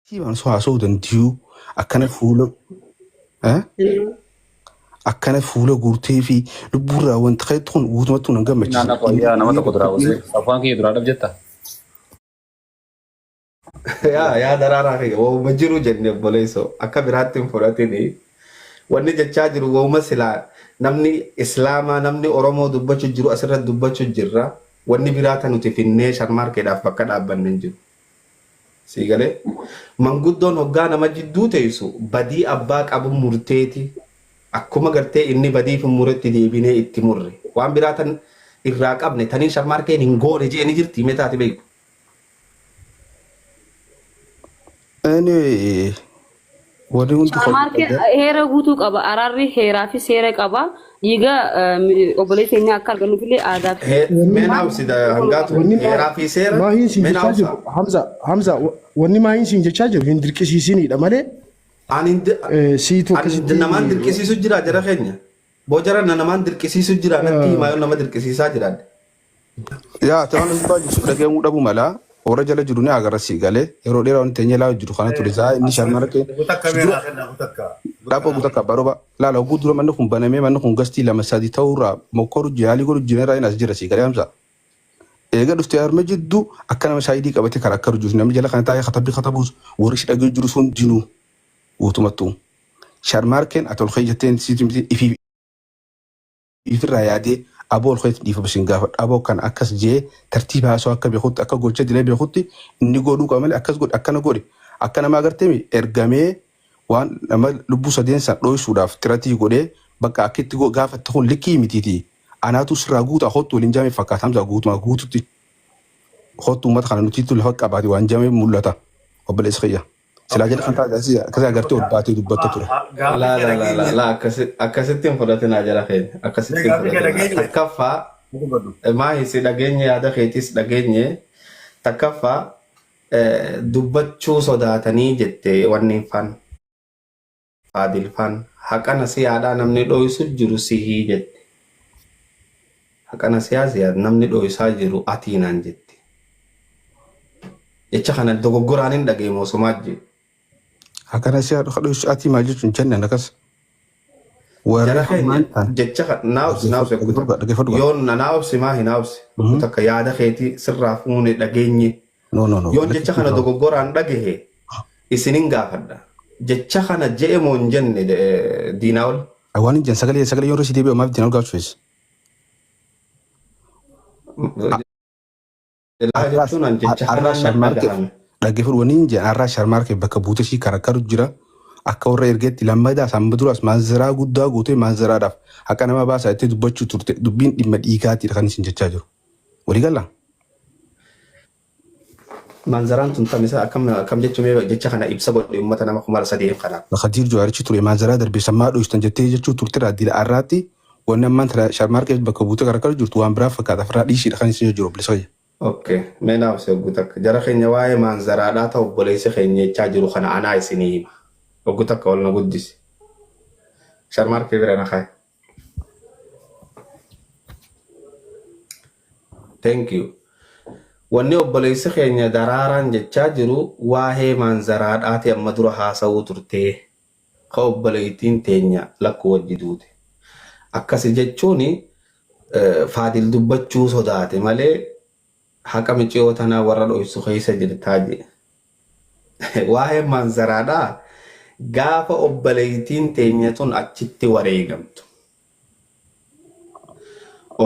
Siimaan osoo haasa'uu danda'u akkana fuula eh, akkana fuula guurtee fi lubbuurraa wanta ka'etti kun guutumattuu nan Inni gammachiisa. naannoo fayyaa nama tokko duraa buusee afaan kiyya duraa dhab jetta. yaa yaa daraaraa kiyya wauma jiru jenne obboleessoo akka biraatti hin fudhatin wanni jechaa jiru wauma silaa namni islaamaa namni oromoo dubbachuu jiru asirratti dubbachuu jirra wanni biraa tan nuti finnee sharmaarkeedhaaf bakka dhaabbanne hin jiru Sii galee? Manguddoon hoggaa nama jidduu teessu badii abbaa qabun murteeti. Akkuma gartee inni badii fi muretti deebinee itti murre. Waan biraa tan irraa qabne taniin sharmaarkeen hin goone je'e ni jirtii mee taati beeytu? Anyway Warri hundi Maarkeen kompiitara heera guutuu qaba. Araarri heeraa fi seera qaba. Dhiiga eh, obboleessa keenyaa akka argannuuf illee aadaa fi He- Wanni Meen hawsi da- seera nu hangaatu wanni maa- heeraa fi seera maahiin siin meen jechaa hawsa. jiru Hamza Hamza wa- wanni maahiin siin jechaa jiru hin dirqisiisiniidha malee Ani hin di- eh, siitu ani akkasitti namaan dirqisiisu jira jara keenya. Boo jara na namaan dirqisiisu jira natti himaa yoo nama dirqisiisaa jiraadha. Yaa ta'an dhugaa jirtu dhagamuu dhabuu mala warra jala jiru ni agarra sii galee yeroo dheeraa wanti teenyee laa jiru kana ture saa inni sharmara kee si dura dhaabba guutuu akka baroba laala oguu dura manni kun banamee manni kun gastii lama sadii ta'uu irraa mokkoru jaalii godhu jiran irraa inni as jira sii galee amsa eega dhuftee harme jiddu akka nama shaayidii qabatee karaa akka rujuus namni jala kana taa'ee katabbii katabuus warri si dhagee jiru sun dinuu guutumattuu sharmaarkeen atol kee jetteen siiti miti ifi ifirraa yaadee aboo olka'eetti dhiifama isin gaafadha aboo akkana akkas je'ee tartiiba haasawaa akka beekutti akka gocha dilee beekutti inni goodhuu qaba malee akkas godhi akkana godhi akka namaa gartemi ergamee waan nama lubbuu sadeen san dhooysuudhaaf xiratii godhee bakka akka itti go- gaafatte kun likkii mitiiti anaatu sirraa guutaa kottu waliin jaamee fakkaata hamzaa guutumaa guututti kottu uummata kana nutiitu lafa qabaate waan jaamee mul'ata obboleessa kiyya. Silaa jedha kan taate asii akkasii agartee ol baatee dubbatta ture. Laa laa laa laa laa akkasi- akkasitti hin fudhatinaa jara keenya akkasitti hin Gaafii kee fudhatinaa dhageenye. takkaffaa Dubbadhu. maahi si dhageenye yaada keetis dhageenye takkaffaa eh, dubbachuu sodaatanii jette wanni hin faan Faadil fan haqa nasiyaadha namni dhoysu jiru sihi jette haqa nasiyaa ziyaad namni dhoysaa jiru atii naan jette jecha kana dogoggoraan hin dhagee moo somaa jee Haqa nasiyaa dhufa dhoysu atii maal jechuun jenne nakas. Warri jara keenya hammaan kan jecha kana naa obsi naa obsi kuta dhaggeeffadhu qaba. yoo na naa obsi maa hin naa obsi kuta akka yaada keetii sirraa fuune dhageenye No, no, no. Yoon jecha kana Lakkisaa. dogoggoraan dhagahe isinin gaafadha. Jecha kana je'e moo hin jenne eh, diinaa ol? Waan hin jenne sagalee sagalee yoo irra si deebi'u maaf diinaa ol gaafachuu feessa? Laa jechuun an jecha Har'aa kanaan nan sharmaarkeef dhagahame. dhaggeeffadhu waan hin jenne har'aa sharmaarkeef bakka buute ishii karakkaru jira. Akka warra ergeetti lammadaa sammuu duraas maanzaraa guddaa gootee maanzaraadhaaf haqa nama baasaa itti dubbachuu turte dubbiin dhimma dhiigaatiidha kan isin jechaa jiru. Walii galla? Maanzaraan tun tamisa akkam akkam jechu mee jecha kana ibsa godhe ummata nama kuma sadeen kana. Kadiir Jawaarichi ture maanzaraa darbe san maa dhoystan jettee jechuu turtera dila arraatti wanni ammaan tana sharmaarqeef bakka buutee karakar jirtu waan biraa fakkaata firraa dhiisiidha kan isin jiru obbolessa kiyya. Ok mee naa obsi oggu takka jara keenya waa'ee maanzaraadhaa ta obboleessi keenya jechaa jiru kana anaa isinii hima oggu takka ol na guddisi sharmaarqee bira na kaayi. Thank you. Wanni obboleessi keenya daraaraan jechaa jiru waa'ee maanzaraadhaati amma dura haasa'uu turtee ka obboleettiin teenya lakkuu wajji duute. Akkasi jechuun eh, faadil dubbachuu sodaate malee Haqa miciyoo tanaa warra dhoysu keessa jirtaa je. Waa'een maanzaraadhaa gaafa obboleeytiin teenya tun achitti wareegamtu.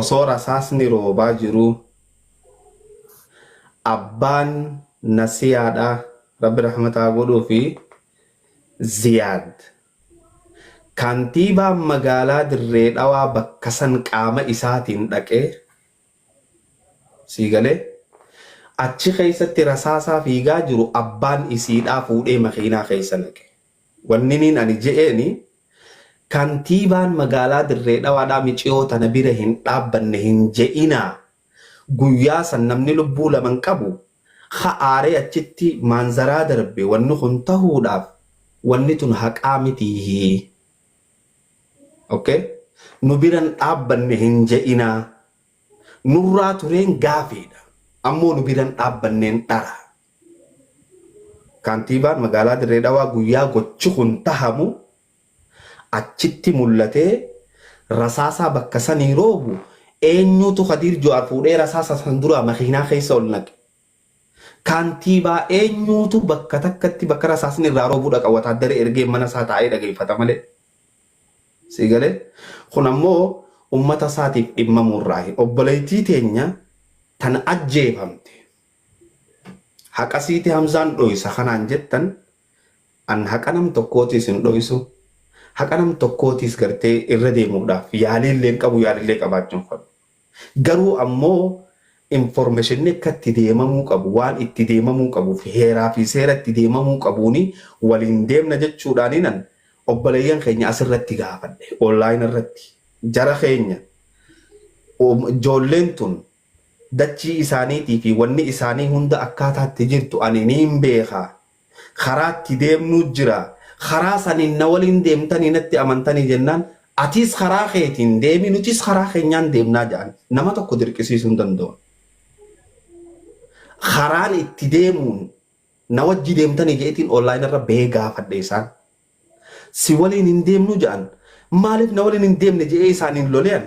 Osoo rasaasni roobaa jiruu abbaan nasiyaadhaa rabbi rahmata haa godhuufi Ziyaad kantiibaan magaalaa dirree dhawaa bakka san qaama isaatiin dhaqee Sii galee? Achi keessatti rasaasaa fiigaa jiru abbaan isiidhaa fuudhee makiinaa keessa naqe. Wanniniin ani je'eeni kantiibaan magaalaa Dirree Dhawaadhaa miciyoo tana bira hin dhaabbanne hin je'inaa guyyaa san namni lubbuu laman qabu ka aaree achitti maanzaraa darbe wanni kun tahuudhaaf wanni tun haqaa mitiihii. ok nu biran dhaabbanne hin je'inaa nurraa tureen gaafiidha ammoo nu biran dhaabbanneen dhara Kaantiibaan magaalaa Dirree Dhawaa guyyaa gochi kun tahamu achitti mullatee rasaasaa bakka sanii roobu eenyuutu Kadiir Juhaar fuudhee rasaasa san duraa makiinaa keessa ol naqe? Kaantiibaa eenyuutu bakka takkatti bakka rasaasni irraa roobu dhaqa wataaddara ergee mana isaa taa'ee dhageeffata malee. Sii galee? Kun ammoo ummata isaatiif dhimmamuu irraayi. Obboleettii teenya tan ajjeefamte haqa siiti Hamzaan dhooysa kanaan jettan an haqa nam tokkootiis hin dhooysu, haqa nam tokkootiis gartee irra deemuudhaaf yaaliillee hin qabu, yaalillee qabaachuu hin fadhu. Garuu ammoo informeshinni akka itti deemamuu qabu, waan itti deemamuu qabuuf heeraa fi seera itti deemamuu qabuun waliin deemna jechuudhaaninan obboleeyyan keenya asirratti gaafadhe, online irratti. Jara keenya ijoolleen tun dachii isaaniitii fi wanni isaanii hunda akkaataa itti jirtu ani niin beeka, Karaatti deemnuu jira. Karaa saniin na waliin deemtanii natti amantanii jennaan atiis karaa keetiin deemi nutiis karaa keenyaan deemnaa ja'an. Nama tokko dirqisiisuu hin dandawan. Karaan itti deemuun na wajji deemtanii je'etiin online irra bahee gaafadhe isaan. Si waliin hin deemnuu ja'an. Maaliif na waliin hin deemne je'ee isaaniin lole ani.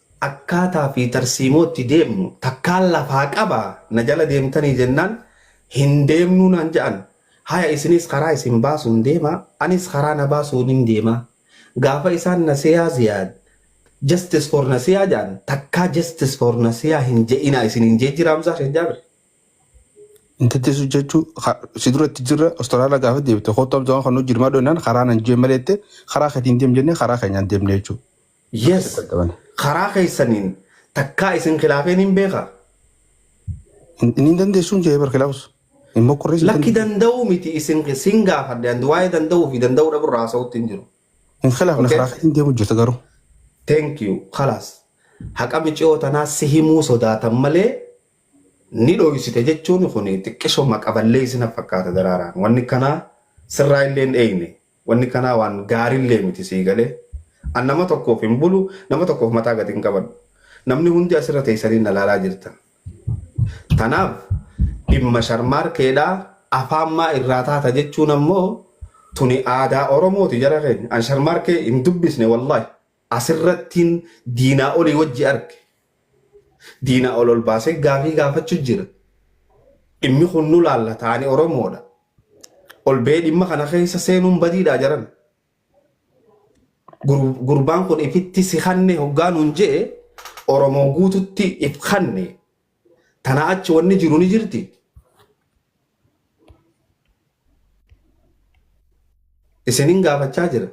Akkaataa fi tarsiimoo itti deemnu takkaan lafaa qaba na jala deemtanii jennaan hin deemnuu naan ja'an haya isinis karaa isin baasuun deemaa anis karaa na baasuunin deemaa gaafa isaan nasiyaa ziyaad justice for nasiyaa ja'an takkaa justice for nasiyaa hin ja'inaa isiniin ja'ee jira hamzaa sheek jaabir. hin tettesu jechu ka- si dura itti jirra Australia gaafa deebite kottu abjaan kan hojii dirmaa dhooynaan karaa nan jee malee jette karaa ketiin deem jennee karaa keenyaan deemne jechuu Yes karaa keessaniin takkaa isin khilaafeen hin beeka. Inni dandeessuun jee bar khilaafus. Hin mokkorrees. Lakki danda'uu miti isin sin gaafadhe and waa'ee danda'uu fi danda'uu dhabu irraa haasa'utti hin jiru. Hin khilaafne Okay. karaa keetiin deemu jirta garuu. Thank you. Khalas. Haqa miciyoo tanaa si himuu sodaatan malee ni dhoysite jechuun kun xiqqisho maqaballee isin fakkaata daraaraan. Wanni kanaa sirraa illee hin eegne. Wanni kanaa waan gaarillee miti sii galee? An nama tokkoof hin bulu, nama tokkoof mataa gad hin qabadhu. Namni hundi asirra teessanii na laalaa jirtan. Tanaaf dhimma sharmaarkeedhaa afaan maa irraa taata jechuun ammoo tuni aadaa Oromooti jara keenya. An sharmaarkee hin dubbisne wallahi. Asirrattiin diinaa olii wajji arge. Diinaa ol ol baasee gaafii gaafachu jira. Dhimmi kun nu laallata ani Oromoodha. Ol ba'ee dhimma kana keessa seenuun badiidhaa jaran. Gurbaan kun ifitti si kanne hoggaa nuun je'e Oromoo guututti if kanne. Tanaa achi wanni jiru ni jirti. Isinin gaafachaa jira.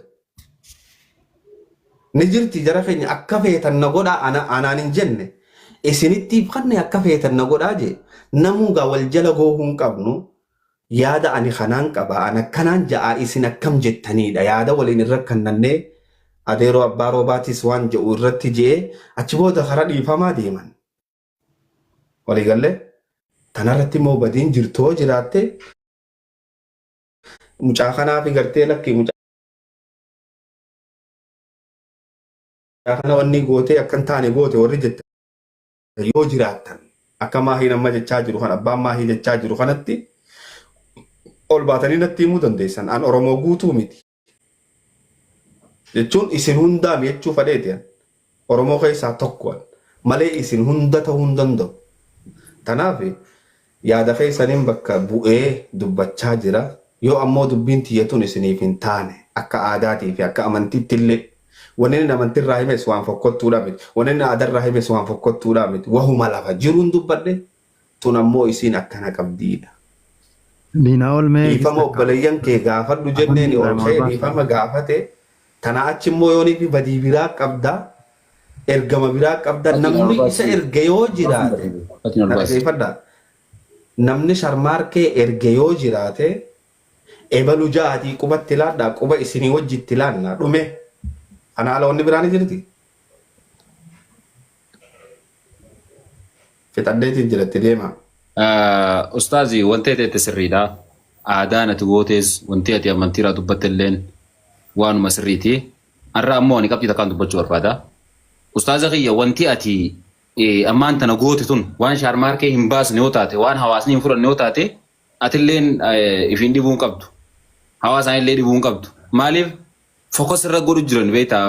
Ni jirti jara keenya akka feetan na godhaa ana- anaan hin jenne. Isinittiif kanne akka feetan na godhaa jee. Namuu gaa wal jala goohuu hin qabnu. Yaada ani kanaan qaba. An akkanaan ja'aa isin akkam jettaniidha. Yaada waliin hin rakkannannee adeeroo abbaa roobaatis waan ja'u irratti je'ee achi booda karaa dhiifamaa deeman. Walii galle tanarratti immoo badiin jirtoo jiraatte mucaa kanaa fi gartee lakki mucaa kana wanni gootee akka hin taane goote warri jette yoo jiraattan akka maahiin amma jechaa jiru kan abbaan maahii jechaa jiru kanatti ol baatanii natti himuu dandeessan an Oromoo guutuu miti. jechuun isin hundaa jechuu fadheeti an oromoo keessaa tokko an malee isin hunda ta'uu hin danda'u tanaaf yaada keessaniin bakka bu'ee dubbachaa jira yoo ammoo dubbiin tiyyatuun isiniif hin taane akka aadaatii fi akka amantiitti illee wanni inni amantii irraa himes waan fokkottuudhaa miti wanni inni aadaa irraa himes waan fokkottuudhaa miti wahuma lafa jiruun dubbadhe tun ammoo isiin akkana qabdiidha. Diinaa ol mee Dhiifama gista obboleeyyan kee kaa'u. gaafadhu jenneeni Alhamdulillah ol ka'ee warbaan dhiifama sa'a. gaafate. Tanaa achi immoo yoonii fi badii biraa qabda, ergama biraa qabda, Atiin namni isa olbaasii. erge yoo Olbaasii jiraate, barbaade. Atiin na olbaasii. dhageeffadha, namni sharmaarkee erge yoo jiraate, ebalu ja'aatii qubatti laadhaa, quba isinii wajjitti laannaa, dhume. Kana ala wanni biraa ni jirti? Fixadheetiin jira itti deemaa. Ustaazi wanti ati jette sirriidha. Aadaan ati gootees wanti ati amantiirraa dubbatte illeen waanuma sirriiti. Har'a ammoo ani qabxii takkaan dubbachuu barbaada. Ustaaza kiyya wanti ati eh, ammaan tana goote tun waan shaarmaarkee hin baasne yoo taate waan hawaasni hin fudhanne yoo taate atilleen eh, ifiin dhibuu hin qabdu. Hawaasaan illee dhibuu hin qabdu. Maaliif fokas irra godhu jiran beektaa?